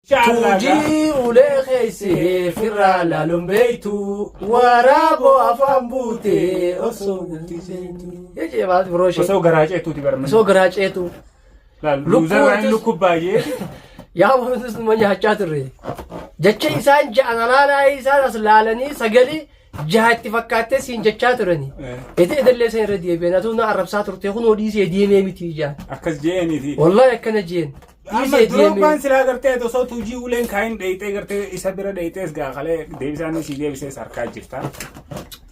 Tuujii ulee keessee firraa laaluun beektu waraaboo afaan buutee osoo bultii seentu. Jechee baatu biroo ishee. Osoo garaa ceetuuti barman. Osoo garaa ceetu. Laal Lukkuu luuzarraan utus- lukkuu baay'ee. Yaa wantus nama nyaachaa turre. Jecha isaan ja'a nanaanaa isaan as laalanii sagalee jaha itti fakkaattee siin jechaa turani. Ete edallee isaan irra deebi'an atuu na arrabsaa turte kun hodhiisee deemee miti ijaan. Akkas je'eeniiti. Wallahi akkana jeen. Amma Droogbaan silaa gartee ati osoo tuujii uleen kaayin dheeyxee gartee isa bira dheeyxees gaa kalee deebisaan sii deebisees harkaa jirta.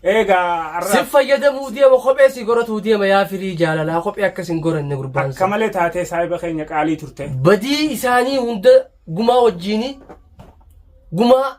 Eegaa har'a Sin fayyadamuu deema kophee si goratuu deema yaa firii jaalalaa kophee akkas hin goranne gurbaan akka sun. malee taatee saahiba keenya qaalii turte. Badii isaanii hunda gumaa wajjiini gumaa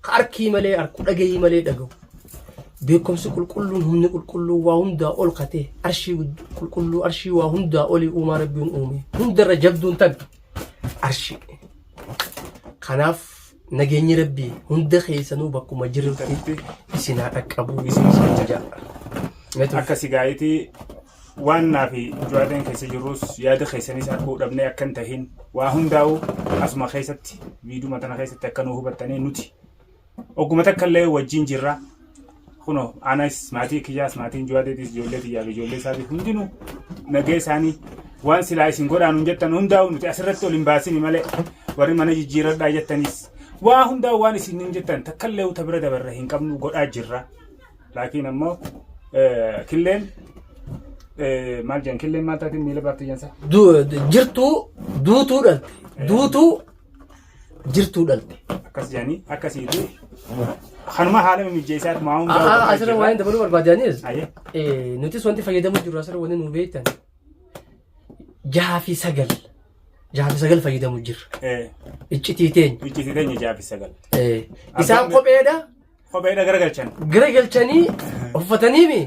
Ka arkii malee arku, dhagayii malee dhagawu, beekkomsi qulqulluun, humni qulqulluun, waa hundaa ol ka ta'e, arshii gudd- qulqulluu, arshii waa hundaa olii uumaa Rabbiin uume, hundarra jabduun tan arshii. Kanaaf nageenyi Rabbii hunda keessanuu bakkuma jirrutti isin haa dhaqqabu isin isin ja'a. Meetu Akka sigaayiti Waan naa fi Juwaadeen keessa jirrus yaada keessanis arguu dhabnee akka hin tahin waa hundaa'u asuma keessatti viiduma tana keessatti akka nu hubattanii nuti ogguma takka illee wajjin jirra. Kuno anas maatii kiyyaas maatiin Juwaadeetis ijoollee tiyyaa fi ijoollee isaatiif hundinuu nagee isaanii waan silaa isin godhaan hin jettan hundaa'u nuti asirratti ol hin baasini malee warri mana jijjiiradhaa jettanis waa hundaa'u waan isin hin jettan takka illee uta bira dabarre hin qabnu godhaa jirra. Laakiin ammoo killeen maal jedhan killeen maal taatiin miila baafti jensa. Jirtuu duutuu dhalte. Duutuu jirtuu dhalte. Akkas jedhanii akkasiiti. Kanuma haala mijeessaa maa hundaa. Asirra waan dabaluu barbaadanis nutis wanti fayyadamuu jiru asirra wanti nu beektan jaha fi sagal jaha fi sagal fayyadamuu jirra. Iccitii teenya. Iccitii teenya jaha fi sagal. Isaan kopheedha. Kopheedha garagalchan. Garagalchanii uffatanii mi?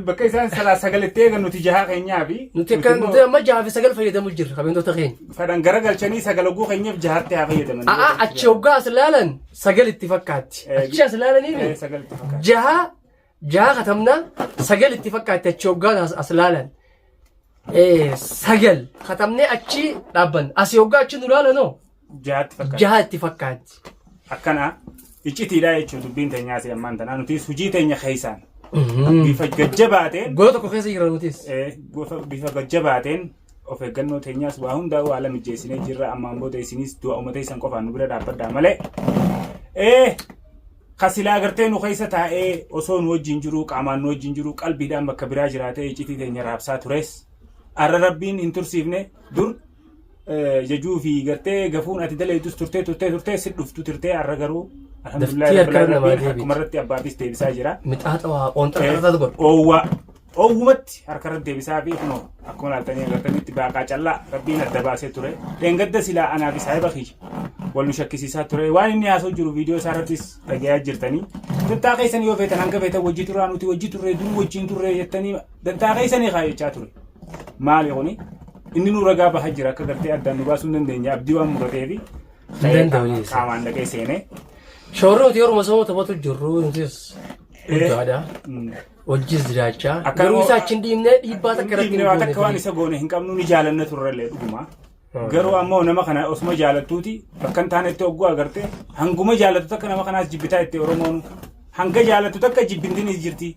Bakka isaan salaa sagal itti eegan nuti jahaa keenyaa fi. Nuti akka nuti amma jahaa fi sagal fayyadamu jirra kabeentoota keenya. Fadhan garagalchanii sagal oguu keenyaaf jahaatti haa fayyadaman. Aa achi hoggaa as laalan sagal itti fakkaatti. Achi as laalanii mi? Jahaa Jaha katamnaa sagal itti fakkaatti achi hoggaan as, as laalan. Eh, sagal katamnee achi dhaabban. Asi hoggaa achi nu laalanoo Jaatti fakkaata. jaha itti fakkaatti. Akkana iccitiidha jechuun dubbiin teenyaa si ammaan tanaa nutis hojii teenya keessaan bifa gajjabaateen Gola tokko keessa jira nutis. eh, gofa- bifa gajjabaateen of eeggannoo teenyaas waa hundaa waa ala mijeessinee jirra ammaan booda isinis du'a uummata isan qofaan nu bira dhaabbadhaa malee. Eh, Ka silaa gartee nu keessa taa'ee osoo nu wajjin jiruu, qaamaan nu wajjin jiruu, qalbiidhaan bakka biraa jiraatee iccitii teenya raabsaa tures, arra Rabbiin hin tursiifne, dur eh, jajuu fi gartee gafuun ati daleeydus turtee turtee turtee si dhuftu turtee arra garuu alhamdulillah Daftii harka rabbil namaa aalamiin deebiiti. harkuma irratti abbaafis deebisaa jira. Mixaaxa waa qoonxara irra godhu. Oowwaa. Dhoowwumatti harka irratti deebisaa fi kunoo akkuma laaltanii agartanitti baaqaa callaa rabbiin adda baasee ture. Dheengadda silaa anaa fi saahiba kiyya wal nu shakkisiisaa ture. Waan inni haasoo jiru viidiyoo isaa irrattis dhagayaa jirtanii. Dantaa keessan yoo feetan hanga feetan wajji turaa nuti wajji turree dur wajjiin turree jettanii dantaa keessanii kaa jechaa ture. Maali kuni? Inni nu ragaa bahaa jira akka gartee addaan nu baasuu hin dandeenye abdii waan muratee fi danda'u jechuudha. qaamaan dhaqee seenee. Shoorri nuti yeruma sooma taphatu jirru nutis guddaadha. Mm. Hojjis jiraachaa. Akka Garuu nama- isaa achi hin dhiibne dhiibbaa takka irratti hin Dhiibnee waan goone akka waan ture. isa goone hin qabnu ni jaalanna turrellee dhuguma. Garuu ammoo nama kana osuma jaalattuuti bakka hin taanetti hogguu agarte hanguma jaalattu takka nama kanaas jibbitaa itti Oromoon hanga jaalattu takka jibbintiin is jirti.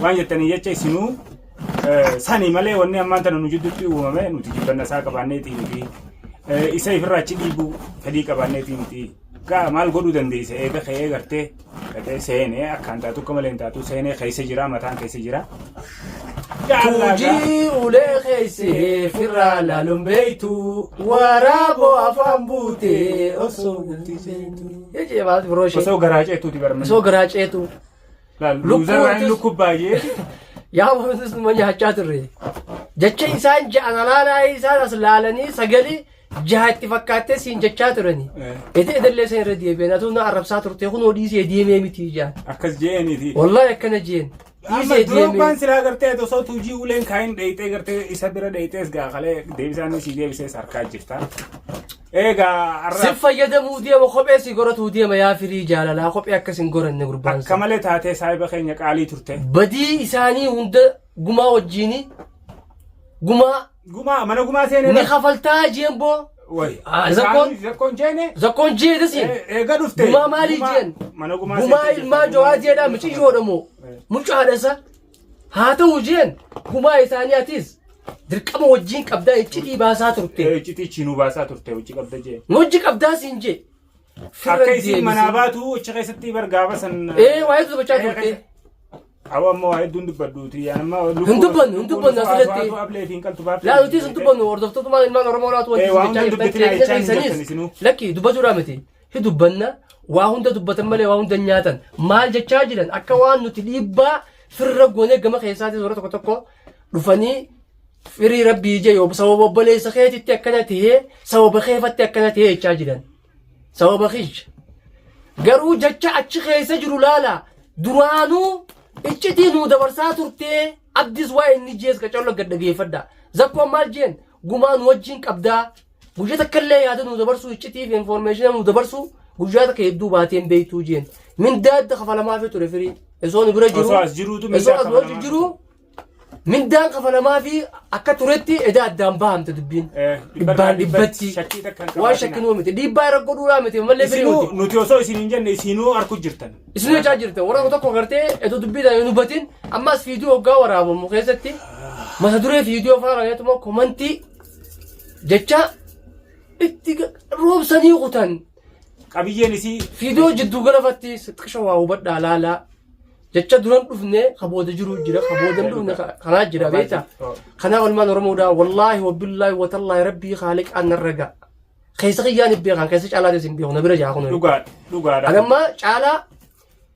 Waan jettanii jecha isinuu eh, sani malee wanni ammaan tana nu jidduutti uumame nuti jibbanna isaa qabaanneetii miti. Eh, Isa ifirraa achi dhiibuu fedhii qabaanneetii miti. Gaa maal godhuu dandeessa eega ka'ee gartee dhaqee seenee akkaan taatu akka malee hin taatu seenee keessa jira mataan keessa jira. Tuujii ulee keessee firraa laaluun beektu waraaboo afaan buutee osoo galti seentu. Jechee maal biroo ishee Osoo garaa ceetuuti barmee. osoo garaa ceetu Laal lukkuu luuzarraan wantis- lukkuu baay'ee. yaa wantis numa nyaachaa turre. Jecha isaan ja'an alaanaa isaan as laalanii sagalee jaha itti fakkaattee siin jechaa turani. Ede edallee san irra deebi'an atuu na arrabsaa turte kunoo dhiisee deemee miti ijaan. akkas je'eeniiti. Wallahi akkana jeen. Amma Dhiisee deemee. Droogbaan silaa gartee osoo tuujii uleen kaayin dheeyxee gartee isa bira dheeyxees gaa kalee deebisaan isii deebisees harkaa jirta. Eegaa arra Sin fayyadamuu deema kophee si goratuu deema yaa firii jaalalaa kophee akkas hin goranne gurbaan akka sun. malee taatee saahiba keenya qaalii turte. Badii isaanii hunda gumaa wajjiini gumaa Gumaa mana gumaa seenee. Ni kafaltaa jeen boo. Way. Ah, zakkoon. Zakkoon jeene. Zakkoon jee dasi. Eh, eega dhufte. Gumaa maalii Gumaa- jeen? mana gumaa Gumaa seentee ilmaa jirta, jawaa gumaa- jeedhaa miciyyoodha moo? Eh. Mucaadha isa. Haa ta'u jeen gumaa isaanii atis dirqama wajjin qabdaa iccitii baasaa turte. Eh, Iccitii chiinuu baasaa turte hojii qabda jee. Hojji qabdaa siin jee. Akka isiin manaa baatu achi keessatti bar gaafa san. Ee, waa'ee dubbachaa turte. Awa amma waa hedduun dubbadhuuti. Yaan amma lubbuu Hin dubbannu, hin lubbuu dubbannu lubbuu asirratti. haaswaatu ablee fi hin qaltu baafte. Laa nuti isin dubbannu hordoftootuma ilmaan Oromoo laatu wanti Eh, isin waa jechaa hunda jirtan dubbatina qeeqna jechaa hin jirtan keessaniis isinuu. lakki dubbachuudhaa miti. Hi dubbanna waa hunda dubbatan malee waa hunda hin nyaatan maal jechaa jiran akka waan nuti dhiibbaa firra goonee gama keessaatis warra tokko tokko dhufanii firii rabbii ijee yoo sababa obboleessa keetitti akkana ta'ee sababa keefatti akkana ta'ee jechaa jiran. sababa kiyya garuu jecha achi keessa jiru laala duraanuu iccitii nuu dabarsaa turtee abdis waa inni jees qacarra gad dhageeffadha zakkoon maal jeen gumaa nu wajjin qabdaa guyyaa takka illee yaada nuu dabarsuu iccitii fi infoormeeshina nuu dabarsuu guyyaa takka hedduu baatee hin beektuu jeen mindaa adda kafalamaafii ture firii esoon bira jiru Osoo as jiruutu mindaa osoo as kafalamaafii jiru Mindaan kafalamaa fi akka turetti edaa addaan bahamte dubbiin. Eh, Dhibbaan dhibbatti. shakkii takka hin Waan shakkin qabaatinaa. miti. Dhiibbaa irra godhuudhaa miti. Mallee firii Isinuu miti. nuti osoo isin hin jenne isinuu arku jirtan. Isin jechaa jirta. Warra tokko gartee edoo dubbii taa'ee nu batin ammas viidiyoo hoggaa waraabamu keessatti mata duree viidiyoo fa'aa raayyaatuma komantii jecha itti ga- roobsanii kutan. qabiyyeen isii Fiidiyoo jidduu galafatti xiqqisha waa hubadhaa laalaa. Jecha duran dhufne ka booda jiru jira ka booda hin dhufne ka- kanaa jira beekta. Kanaa olmaan Oromoodhaa wallaahi wabbillaahi watallaahi rabbii haaliqaan narra ga'a. Keessa kiyyaan hin beekan keessa caalaatis hin beeku na bira jaa kun. dhugaa dhugaadha. Anamma caalaa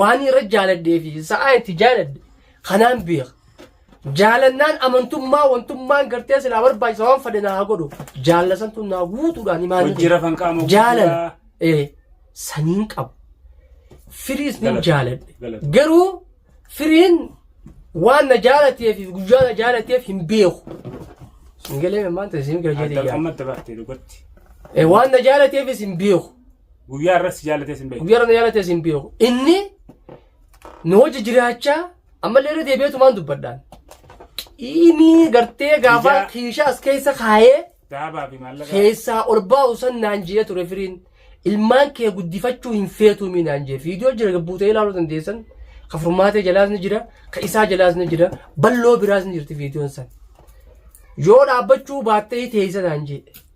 Waan irra jaaladhee fi sa'aa itti jaaladhe kanaan beeka. Jaalannaan amantummaa wantummaan gartee silaa barbaachisa waan fadhe naa godhu jaalala santu naa guutuudhaan imaan Hojjira kan qaama jaalala guddaa. ee saniin qabu. Firiis nin Galata. jaaladhe. Galata. Garuu firiin waan na jaalateef fi guyyaa na jaalateef hin beeku. Singalee maanta siin gara jedhee Adda yaa. qammatti baaftee dhugaatti. Eh, waan na jaalateefis hin beeku. Guyyaa irratti si jaalatee sin beeku. Guyyaa irratti jaalatee sin beeku. Inni nu hojii jiraachaa ammallee irra deebi'eetumaan dubbadhaan. Qiimii gartee gaafa kiishaa as keessa kaayee. Daabaa fi maallaqa. Keessaa ol baa'u san naan jee ture firiin. Ilmaan kee guddifachuu hin feetuumi naan jee. Viidiyoo jira gabbuutee ilaaluu dandeessan. Ka furmaatee jalaas ni jira. Ka isaa jalaas ni jira. Balloo biraas ni jirti viidiyoon san. Yoo dhaabbachuu baattee teessa naan jee.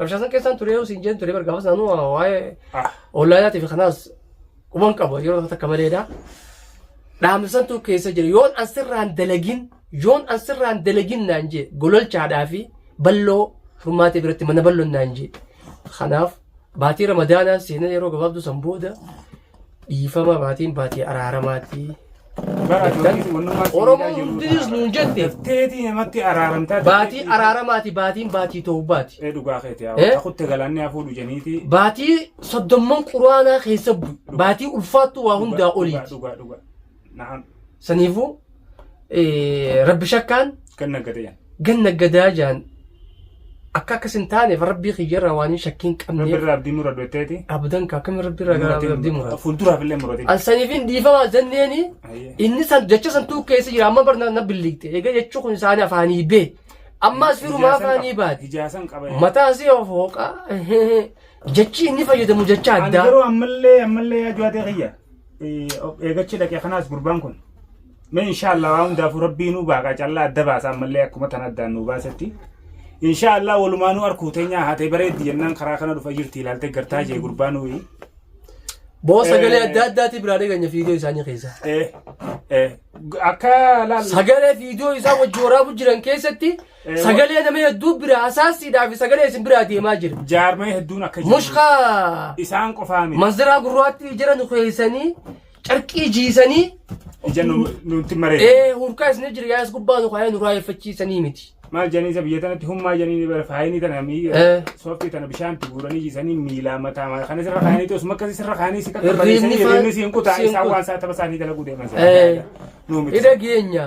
Rabshaa san keessaan ture yoo siin jeen ture bar gaafas naannoo waa'ee ollaayaatii fi kanaas quban qaba yeroo tokko takka maleedha. Dhaamsantu keessa jira yoon an sirraan dalagin yoon an sirraan dalagin naan jee gololchaadhaa fi balloo furmaatee biratti mana balloon naan jee. Kanaaf baatii ramadaanaa seenaa yeroo gabaabduu san booda Dhiifama baatiin baatii araaramaati. Bara Jettan. ajoolleen wannummaa siin Oromoo jedhaa jiru hundis ta'a. nuun jette. Dafteetii namatti araaramtaa Baatii dafteetii- araaramaati baatiin baatii toobaati. Ee dhugaa keeti yaa Eh? takutte galaanni haa fuudhu jeniitii. Baatii soddomman quraanaa keessa bu'e. Baatii ulfaattuu waa hundaa Dhugaa, oliiti. Dhugaa dhugaa. Naam. Saniifuu eh, rabbi shakkaan Kan naggate jan. ganna gadaa jaan akka akkas hin taaneef rabbii kiyyarraa waan hin shakkiin Rabbi qabneef irraa abdii mura du'etteeti. abdan ka akkami rabbi irraa gara abdii muraati. Fuulduraaf illee murate. An saniifin dhiifama jenneeni Ayyee. inni san jecha san tuu keessa jira amma barna na billigte egaa jechuu kun isaanii afaanii bee ammaas firumaa afaanii baati Hijaasan qaba. mataa si of hooqa jechi inni fayyadamu jecha Ani addaa garuu ammallee ammallee yaa ju'atee kiyya. of eegachi dhaqe kanaas gurbaan kun mee inshaallah waa hundaafuu rabbii nuu baaqa callaa adda baasa ammallee akkuma tan addaan nuu baasetti inshaallah walumaanuu arkuu teenyaa haatee bareeddi jennaan karaa kana dhufa jirti ilaaltee gartaa jee gurbaa nuyi Boo sagalee adda addaati biraa dhaganya fiidiyoo isaanii keessa. Eh, eh, akka laal Sagalee fiidiyoo isaa wajji waraabuu jiran keessatti Sagalee nama hedduu bira asaasiidhaa fi sagalee isin biraa deemaa jira. Jaarmaya hedduun akka jiru. Mushka Isaan qofaa miti. manziraa gurraatti ijara nu keessanii carqii jiisanii Ija nu- nutti maree. ee hurkaa isin jira yaas gubbaa nu kaayee nu raayeffachiisanii miti. Maal janiisa biyya tanatti hummaa janiini bara faayinii tana mii Eh. sooftii tana bishaanti guuranii jiisanii miilaa mataa maal kana sirra kaanii ta'us makka sirra kaanii si takka Hirriibni balleessanii faa- hirriibni siin kutaa siin isaan kuta. waan isaa tapha isaanii dalaguu deeman Eh. sana. Nuu miti. Ida geenya.